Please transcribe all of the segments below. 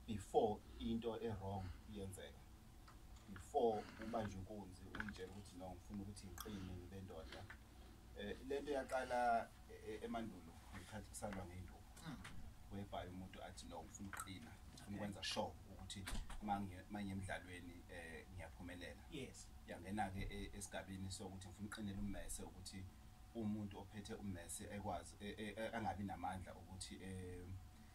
before into ewrong yenzeka before ubanje inkunzi uyitshela ukuthi no ngifuna ukuthi ngiqine ngibe ndoda eh, le nto yaqala eh, emandulo ngikhathi kusalwa ngeyinduku hmm. webhaye umuntu athi no ngifuna ukuqina ngifuna ukwenza sure ukuthi manye emdlalweni um eh, ngiyaphumelela yangena-ke e, esigabeni sokuthi ngifuna uqinela ummese ukuthi umuntu ophethe ummese ekwazi e, e, angabi namandla ukuthi um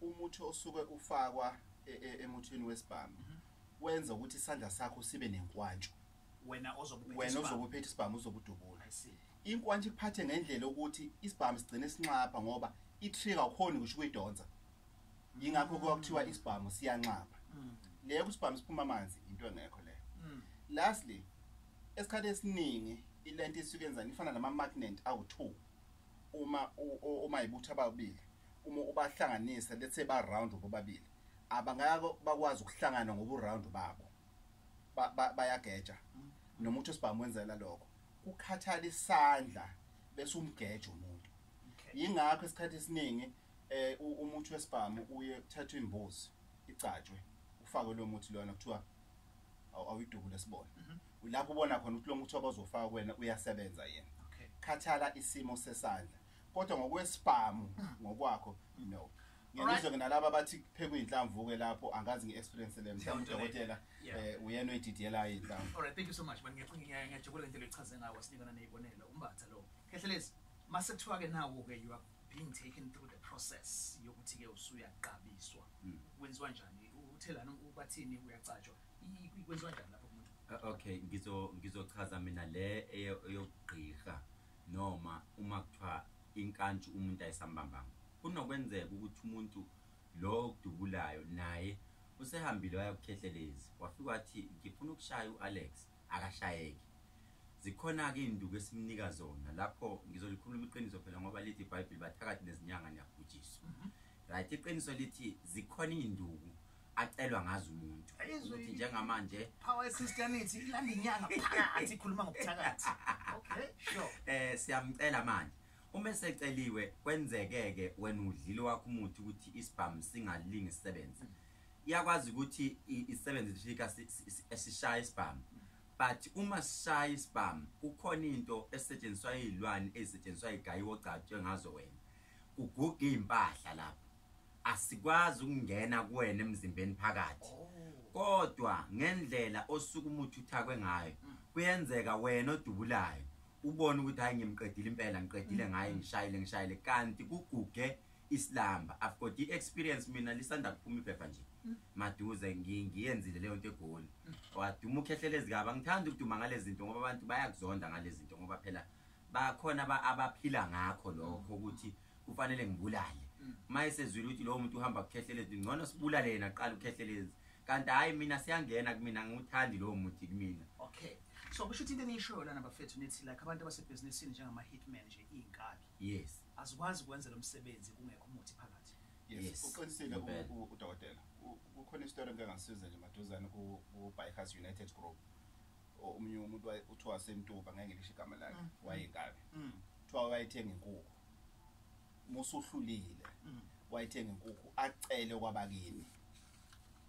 umuthi osuke ufakwa e, e, emuthini wesibhamu mhm. wenza ukuthi isandla sakho sibe nenkwantshu wena ozokuphetha isibhamu uzokudubula inkwantshu ikuphathe ngendlela ukuthi isibhamu sigcine sinxapha ngoba i-trigger ukhona ukuthi kuyidonsa yingakho kuwa kuthiwa isibhamu siyanxapha mm. leyo kusibhamu siphuma amanzi into engekho leyo mm. lastly esikhathi esiningi ilento isuke enzani ifana nama-magnet awu-two uma uma ibutha ababili uma ubahlanganisa let's say ba round bobabili abangako bakwazi ukuhlangana ngobu round babo bayageja noma uthi sibamwenzela lokho kukhathala isandla bese umgeje umuntu yingakho isikhathi esiningi eh umuthi wesibhamu uye kuthathwa imbuzi igcatshwe ufakwe lo muthi lona kuthiwa awuyidubule sibona mhm. lapho ubona khona ukuthi lo muthi abazofaka kuwena uyasebenza yena khathala isimo sesandla kodwa ngokwesibhamu ngokwakho no ngiyizwe nalaba bathi phekwa inhlamvu ke lapho angazi ngiexperience le mhlawumbe udokotela eh uyena oyididiyela inhlamvu all right thank you so much manje ngiyacinga ngiyajabula into echaze ngawo sinikana nezibonelo umbatha lo khehlelezi mase kuthiwa ke nawo ke you are being taken through the process yokuthi ke usuyaqabiswa hmm. kwenziwa njani uthelana ubathini uyacatshwa kwenziwa njani lapho kumuntu okay ngizo ngizochaza mina le eyokugqirha noma uma kuthiwa inkantshi umuntu ayisambambanga. Kunokwenzeka ukuthi umuntu lo okudubulayo naye usehambile waya kuKhehlelezi, wafike wathi ngifuna ukushaya u-Alex, akashayeke. Zikhona-ke izinduku esimnika zona lapho, ngizolikhuluma iqiniso phela ngoba lithi iBhayibheli bathakathi nezinyanga niyabhujiswa. Right, iqiniso lithi zikhona izinduku acelwa ngazo umuntu ukuthi njengamanje power christianity ilanda inyanga phakathi ikhuluma ngobuthakathi okay sure eh siyamcela manje uma eseceliwe kwenzekeke wena udlile wakho umuthi ukuthi isibhamu singalingi sisebenze iyakwazi ukuthi isebenze ifika esishaya isibhamu but uma sishaya isibhamu kukhona into esetshenziswa izilwane ezisetshenziswa igayi ogcatshwe ngazo wena kuguga impahla lapho asikwazi ukungena kuwena emzimbeni phakathi oh. kodwa ngendlela osuke umuthi uthakwe ngayo mm. kuyenzeka wena odubulayo ubone ukuthi hayi ngimqedile impela ngiqedile mm. ngaye ngishayile ngishayile kanti kuguge isilamba i've got the experience mina lisanda kuphuma iphepha nje mm. maduze ngiyenzile leyo nto egoli waduma ukhehlele ezikaba ngithanda ukuduma ngalezi zinto ngoba abantu bayakuzonda ngalezi zinto ngoba phela bakhona abaphila ngakho lokho ukuthi mm. kufanele ngibulale mm. uma esezwile ukuthi lowo muntu uhamba kukhehlelezi ngcono sibulale yena kuqala ukhehlelezi kanti hhayi mina siyangena kumina ngiwuthandi lowo muthi kumina okay so kusho ukuthi into eniyishoyo lana bafethu nithi like abantu abasebhizinisini njengama-hitman nje iy'nkabi yes azikwazi ukwenza lo msebenzi kungekho umuthi phakathi yes uqinisile udokotela kukhona isitori engike ngasiza nje maduzane ku-bikers united group omunye umuntu waye- kuthiwa wasemtuba ngeke ngisho igama lakhe Mm. wayekabi Mm. kuthiwa wayethenga inkukhu musuhlulile Mm. wayethenga inkukhu acele kwabakini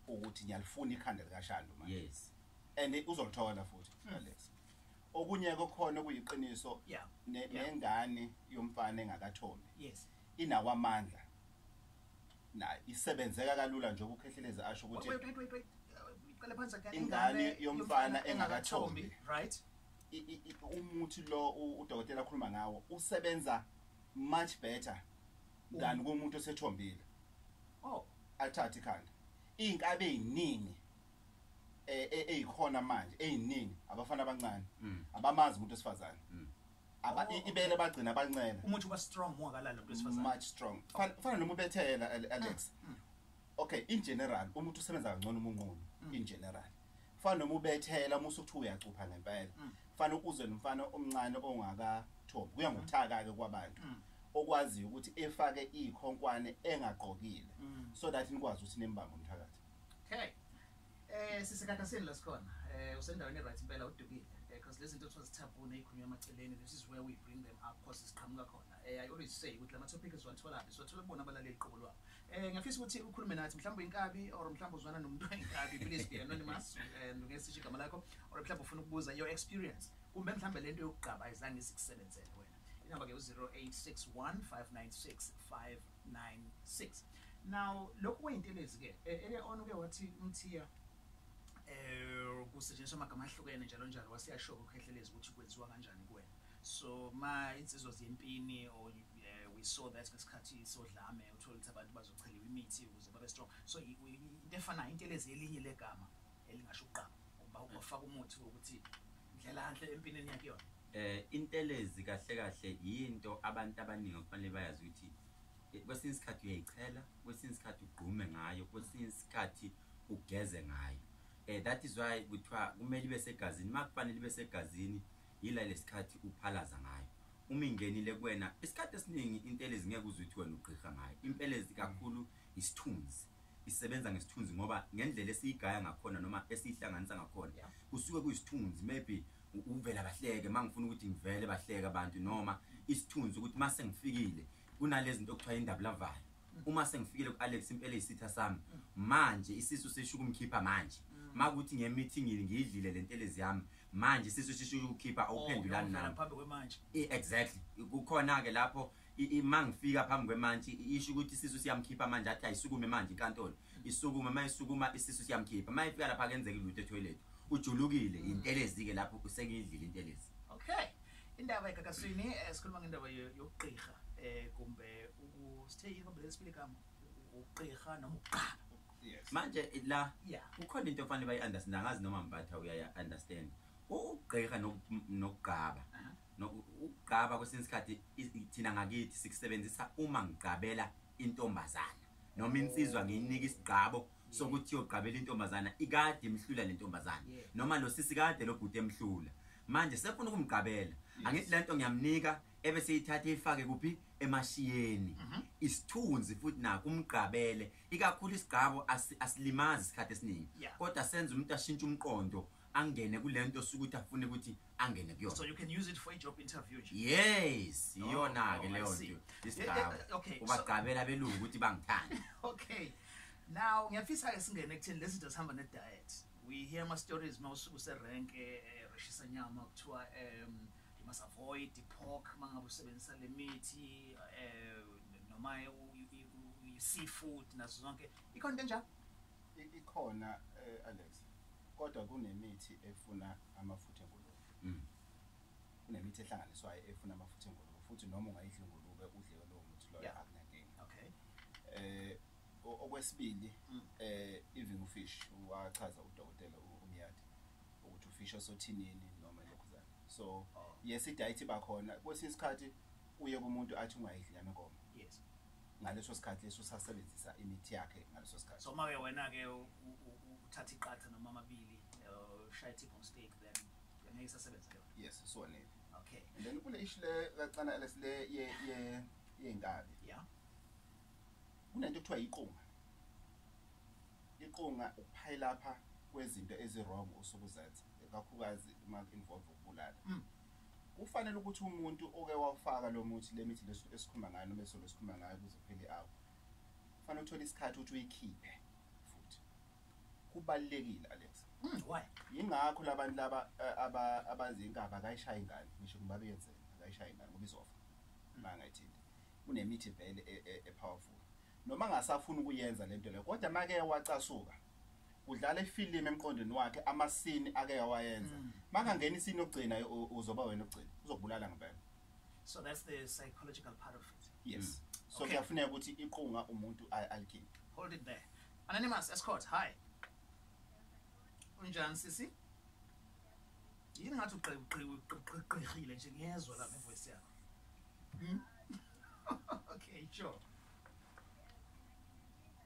ukuthi ngiyalifuna ikhanda likashando manje yes and uzolithola futhi Mm. Alex okunye kokhona kuyiqiniso Yeah. ne- Yeah. nengane yomfana engakathombi yes inawo amandla na isebenzeka kalula nje ukukhehlelezi asho ukuthi wait wait wait wait iqale phansi again ingane yomfana engakathombi right umuthi lo udokotela akhuluma ngawo usebenza much better than kumuntu osethombile oh athathe ikhanda izinkabe eziningi eh ezikhona manje eziningi abafana abancane abamazi umuntu osifazane aba oh. ibele bagcina abancela umuthi uba strong more kalala umuntu wesifazane much strong fana noma ubethela Alex ah, hmm. okay in general umuntu usebenza kangcono umunqunu hmm. in general fana noma ubethela uma usuthi uyacupha ngempela hmm. fana uze nomfana omncane ongaka top kuya ngokuthaka ke kwabantu okwaziyo ukuthi efake ikhonkwane engaqokile so that nikwazi ukuthi nembanga umthakathi okay Eh sisekhathasini la sikhona. Eh usendaweni right impela udukile. Eh because lezi zinto kuthiwa zithabune ezikhulunywa emaceleni this is where we bring them up because siqhamuka khona. Eh I always say ukuthi lama topics siwathola phi? Siwathola kubona abalaleli qobo lwabo. Eh ngiyafisa ukuthi ukhulume nathi mhlawumbe inkabi or mhlawumbe uzwana nomuntu oyinkabi please be anonymous and ungesisho igama lakho or mhlawumbe ufuna ukubuza your experience kumbe mhlawumbe lento yokugqaba izange isikusebenzele wena. Inamba ke u 0861 596 5 96 now lokhu kuyintelezi ke e, ele on uke wathi umthiya eh kusetshenziswa amagama ahlukene njalo njalo wasiyashoko ukhehlelezi ukuthi kwenziwa kanjani kuwena so ma insizwa zempini or eh, we saw that ngesikhathi sodlame uthola ukuthi abantu bazocheliwa imithi ukuze babe strong so into efanayo intelezi elinye legama elingasho uqaba ngoba ufaka umuthi wokuthi ndlela enhle empinini yakhe yona Eh intelezi kahle kahle yinto abantu abaningi okufanele bayazi ukuthi eh, kwesinye isikhathi uyayichela, kwesinye isikhathi ugqume ngayo, kwesinye isikhathi ugeze ngayo. Eh that is why kuthiwa kumele ibe segazini, makufanele ibe segazini yila lesikhathi uphalaza ngayo. Uma ingenile kuwena isikhathi esiningi intelezi ngeke uze uthi wena ugqirha ngayo. Impelezi kakhulu isithunzi. Isebenza ngesithunzi ngoba ngendlela esiyigaya ngakhona noma esihlanganisa ngakhona Yeah. kusuke kuyisithunzi maybe uvela bahleke mangifuna ukuthi ngivele bahleke abantu noma isithunzi ukuthi mase ngifikile kunalezi zinto okuthiwa indaba lavayo uma sengifikile ku-alex impela isitha sami manje isisu sisho ukumkhipha manje makuthi ngemithingile ngiyidlile le ntelezi yami manje isisu sisho ukukhipha oh, awuphendulani nami exactly kukhona-ke lapho uma ngifika phambi kwemantshi isho ukuthi isisu siyamkhipha manje athi ayisukume manje inkantolo isukume uma isukuma isisu siyamkhipha uma ifika lapha kenzeka ilutho ethoyilethi ujulukile mm. intelezi ke lapho usengidlile intelezi okay indaba ekakaswini eh, sikhuluma ngendaba yokugqirha eh kumbe ukusithe yini kumbe lesibili kama ukugqirha noma ukuqala manje la ukhona into efanele bayi-understand angazi noma mbatha uyaya-understand ukugqirha nokugqaba ukugqaba kwesinye isikhathi thina ngakithi sikusebenzisa uma ngigqabela intombazana noma insizwa ngiyinika isigqabo sokuthi yogqabela intombazana ikade imhlula le ntombazana noma lo sisi kade lo bhuti emhlula manje sefuna ukumgqabela angithi le nto ngiyamnika ebe seyithathe ifake kuphi emashiyeni mhm. isithunzi futhi naku umgqabele ikakhulu isigqabo asilimazi isikhathi esiningi kodwa senza umuntu ashintshe umqondo angene kulento osuke uthi afune ukuthi angene kuyona so you can use it for a job interview nje yes oh, iyona ke oh, leyo nto isigaba eh, eh, okay ubagqabela abelungu ukuthi bangithanda okay now ngiyafisa ke singene ekuthini lezi zinto sihamba ne diet we hear ama stories mawusuku se rank eh, reshisa nyama kuthiwa um you must avoid the pork mangabe usebenzisa le mithi um noma i seafood nazo zonke ikhona into enjalo ikhona eh, Alex kodwa kunemithi efuna amafutha engulube mm. kunemithi ehlanganiswayo efuna amafutha engulube futhi noma ungayidla ingulube udle lowo muthi loyo yeah. akunankinga okay eh okwesibili mm. eh even ufish wachaza udokotela umyadi ukuthi ufish osothinini noma lokhuzana so oh. yes idiet bakhona kwesinye isikhathi uye kumuntu athi ungayidli nyama enkomo yes ngaleso sikhathi leso sasebenzisa imithi yakhe ngaleso sikhathi so mawuye wena-ke uthatha iqatha noma amabili uh, shaya tip on stake then ngeke isasebenza leyo yes siwonile okay and then kule ishi le kacana ls le ye ye yey'nkabi yeah kunento kuthiwa yiqunga iqunga ukuphayilapha kwezinto ezi-wrong osuke uzenza kakhulukazi uma involve ukubulala mm. Kufanele ukuthi umuntu oke wawufaka lo muthi le mithi leso esikhumba ngayo noma esolo esikhumba ngayo kuze kuphele awu kufanele uthole isikhathi ukuthi uyikhiphe futhi kubalulekile Alex mm, why yingakho labantu laba eh, aba abazi inkaba akayishaya ingane ngisho kuba beyenzela akayishaya ingane ngoba izofa mangayithindi kunemithi vele e, e, e powerful noma ngasafuna ukuyenza lento leyo kodwa make wacasuka udlala ifilimu emqondweni wakhe amasini ake yawayenza mm. makangena isini yokugcina uzoba wena ogcina uzokubulala ngempela so that's the psychological part of it yes mm. so kuyafuneka ukuthi iqunga umuntu alikhiphe hold it there anonymous escort hi unjani sisi yini ngathi uqhiqhiqhiqhiqhile nje ngiyezwa lapha ivoice yakho hmm? okay sure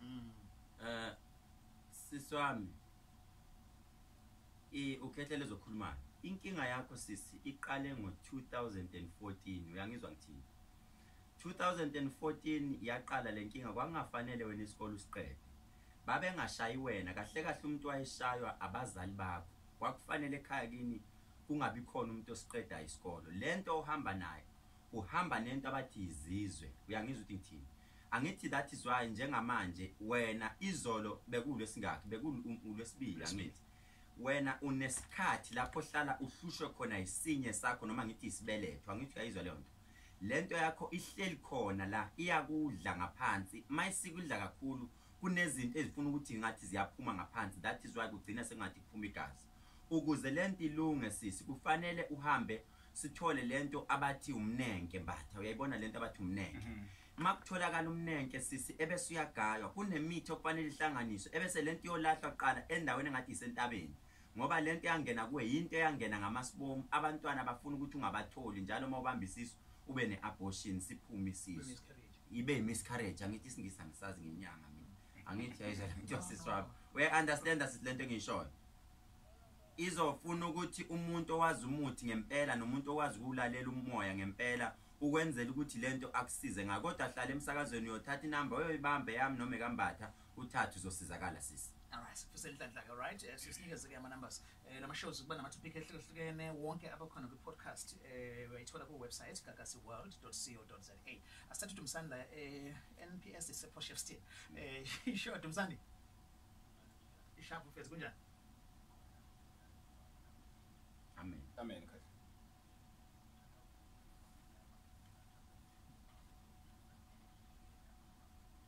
Mm. Eh sisi wami i ukhethe lezokhuluma inkinga yakho sisi iqale ngo 2014 uyangizwa ngithini 2014 yaqala lenkinga kwangafanele wena isikole usiqede babengashayi wena kahle kahle umuntu wayeshaywa abazali bakho kwakufanele ekhaya kini kungabi khona umuntu osiqedayo isikolo lento ohamba nayo uhamba nento abathi yizizwe uyangizwa ukuthi ngithini angithi that is why njengamanje wena izolo bekulo singakhi bekulwesibili angithi wena unesikhathi lapho hlala uhlushwe khona isinye sakho noma ngithi isibeletho angithi uyayizwa leyo nto Lento yakho ihleli khona la iyakudla ngaphansi mayisikudla kakhulu kunezinto ezifuna ukuthi ngathi ziyaphuma ngaphansi that is why kugcina sengathi kuphuma igazi ukuze lento ilunge sisi kufanele uhambe sithole lento abathi umnenke mbatha uyayibona lento abathi umnenke mm -hmm. makutholakala umnenke sisi ebese uyagaywa kunemithi okufanele ihlanganiswe ebese lento iyolahlwa kuqala endaweni engathi isentabeni ngoba lento yangena kuwe yinto eyangena ngamasibomu abantwana bafuna ukuthi ungabatholi njalo uma ubamba isisu ube ne-abortion siphume isisu ibe yi-miscarriage angithi isingisi angisazi ngenyanga mina angithi yayizalento yasiswabo uya-understanda sithi lento engiyishoyo izofuna ukuthi umuntu owazi umuthi ngempela nomuntu owazi ukuwulalela umoya ngempela ukwenzela ukuthi lento akusize ngakodwa hlala emsakazweni uyothatha inamba uyoyibamba yami noma ekambatha uthathu uzosizakala sisi Alright, sifuse inhlanhla ke right. Eh, Sisinikeze ke ama numbers. Eh lama shows kuba nama topic ehlukehlukene wonke abakhona kwi podcast eh uyayithola ku website gagasiworld.co.za. Asithathe Dumsani la eh NPS is a posh still. Eh sure Dumsani. Ishapu fethu kunjani? amen amen kahle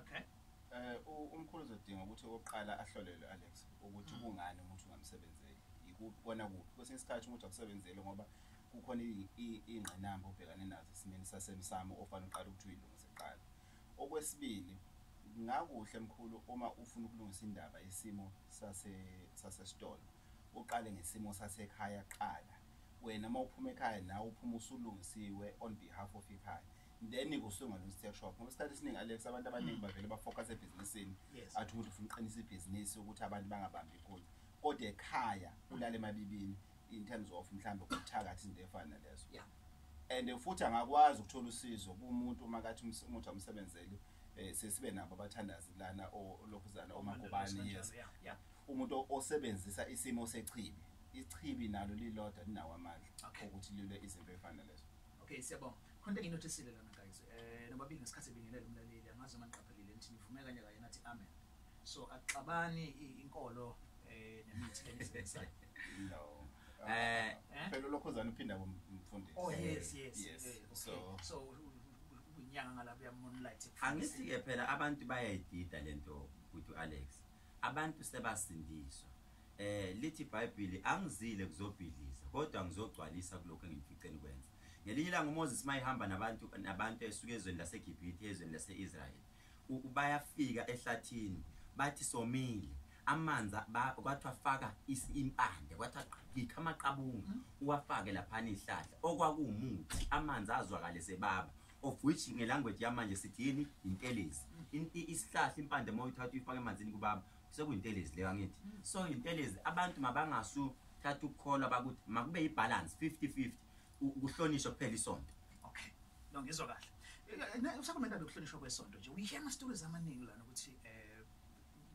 Okay. Eh umkhulu uzodinga ukuthi oqala ahlolelwe Alex ukuthi mm. kungani umuntu ungamsebenzeli. Yikubona kuphi. Kwesinye isikhathi umuntu akusebenzele ngoba kukhona ingqinamba obhekane nazo esimeni sasemsamo ofanele uqale ukuthi uyilungise kuqala. Okwesibili ngakuhle mkhulu uma ufuna ukulungisa indaba isimo sase sasesitolo uqale ngesimo sasekhaya qala wena uma uphuma ekhaya nawe uphuma usulungisiwe on behalf of ikhaya then kusuke ngalo steak shop ngoba isikhathi esiningi alex abantu abaningi mm. bavele bafocus ebhizinisini athi umuntu ufuna uqinisa ibhizinisi ukuthi abantu bangabambi ikunye kodwa ekhaya ulale emabibini in terms of mhlawumbe ukuthakathi izinto efana nalezo and futhi angakwazi ukuthola usizo kumuntu uma kathi umuthi amsebenzeli um sesibe nabo abathandazi lana olokhuzana omakubani yes Umuntu osebenzisa isimo sechibi, ichibi nalo lilodwa linawo amandla okay. okuthi lilwe izinto ezifana lezo. Okay, siyabonga. Khona into esile lana guys. Eh nobabili ngesikhathi bingelela umlaleli angazi uma niqaphelile nithi nivume kanye kanye nathi amen. So axabani inkolo eh nemithi lenisebenzisayo. No. Eh, eh phela lokhozana uphinda kumfundisi. Oh yes, yes. Yes. Eh, okay. So so unyanga ngalabuya moonlight. Angithi ke phela abantu bayayidida lento ukuthi Alex. Abantu sebasindiswa. Eh lithi iBhayibheli angizile kuzobhidliza kodwa ngizogcwalisa kuloko engimfice nikwenza. Ngelinye ilanga uMoses mayihamba nabantu nabantu esuke ezweni laseGibhithe ezweni laseIsrael. Bayafika ehlathini bathi somile amanzi kwathiwa faka impande kwathiwa qhikha amaqabunga uwafake laphana izihlahla okwakuwumuthi amanzi azwakale sebaba of which ngelanguage yamanje sithi yini intelezi isihlahla impande uma uyithatha uyifake emanzini kubaba sekuyintelezi leyo angithi so intelezi abantu mabangasu thatha ukukholwa bakuthi makube yibhalansi 50 50 ukuhlonishwa kuphela isonto okay no ngizwa kahle eh, usakomenda lokuhlonishwa kwesonto nje uyihe ama-stories amaningi lana ukuthi um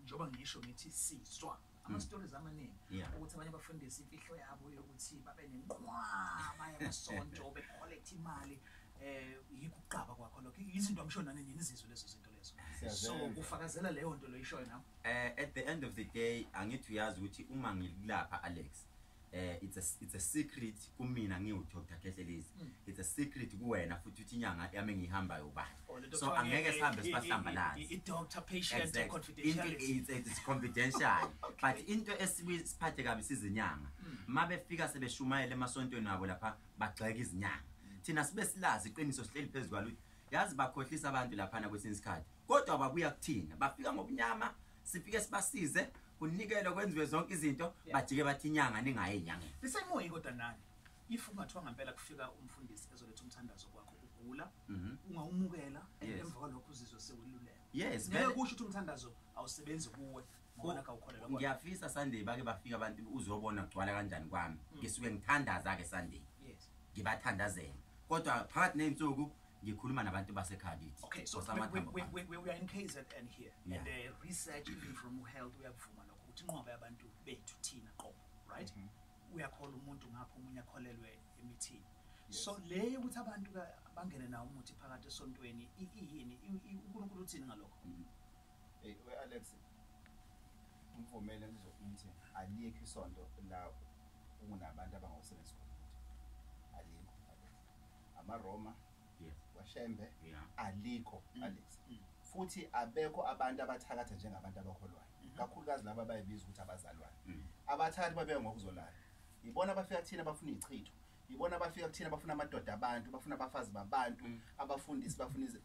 njengoba ngisho ngithi sizwa ama-stories amaningi Yeah. ukuthi abanye bafundisa imfihlo yabo yokuthi babe nenqwaba yamasonto bekholektha imali um yikho ukuqaba kwakho lokho izinto amsho nani nini izizwe lezo zinto lezo so Siyazenza. kufakazela leyo nto loyishoyo nawe Eh at the end of the day angithi uyazi ukuthi uma ngikulapha Alex eh it's a it's a secret kumina ngiwu Dr Khehlelezi mm. it's a secret kuwena futhi uthi inyanga yami ngihamba yoba oh, so angeke sihambe sibahlamba la i doctor patient exactly. confidential it's, it's confidential okay. but into esiphathe kabi sizinyanga mm. mabe fika sebeshumayela emasontweni wabo lapha bagxeka izinyanga mm. thina sibe silazi iqiniso sihleli phezulu yazi bakhohlisa abantu lapha na kwesinye isikhathi kodwa babuya kuthina bafika ngobunyama sifike sibasize kunikelwe kwenziwe zonke izinto bajike bathi inyanga ningaye enyangeni lisemoyi kodwa nani if ungathiwa ngampela kufika umfundisi ezoletha umthandazo kwakho ugula mhm. ungawumukela emva kwalokho uzizwe seweluleka yes ngeke kusho ukuthi umthandazo awusebenzi kuwe Bona kawukholelwa. Ngiyafisa Sunday bake bafika abantu uzobona kugcwala kanjani kwami. Mm. Ngisuke ngithandaza ke Sunday. Yes. Ngibathandazela. Kodwa phakathi nezinsuku ngikhuluma nabantu basekhabithi okay so we, we, we, we, we are in KZN here yeah. and the research even from health uyakuvuma lokho ukuthi inqoba yabantu bethu thina qobo right mm -hmm. uyakhola umuntu ngapho umunye akholelwe emithini yes. so le ukuthi abantu bangene nawo umuthi phakathi esontweni iyini uNkulunkulu uthini ngalokho mm -hmm. Hey we Alex ngivumele ngizokuthi alikho isonto la kunabantu abangosebenzi khona alikho amaRoma yes washembe yeah alikho mm. Alex mm. futhi abekho abantu abathakatha njengabantu abakholwayo mm-hmm. kakhulukazi laba abayibiza ukuthi abazalwane mm. abathakathi babeke ngokuzolala ibona abafika thina bafuna ichitho yibona abafika kuthina bafuna amadoda abantu bafuna abafazi babantu mm. abafundisi bafuna ize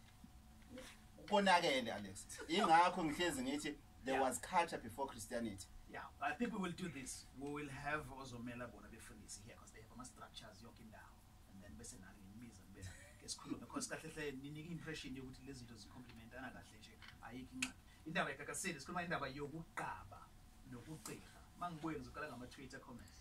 konakele alex ingakho ngihlezi ngithi there yeah. was culture before christianity yeah i think we will do this we will have ozomela bona befundisi here because they have ama-structures yonke indawo and then bese nani ngimbiza ngibe ngesikhulume because kahle hle ninika i-impression yokuthi lezi zinto zicomplimentana kahle nje ayikho incwadi indaba yekakaseli sikhuluma indaba yokuqaba nokugqirha uma ngibuye ngizoqala ngama-twitter comments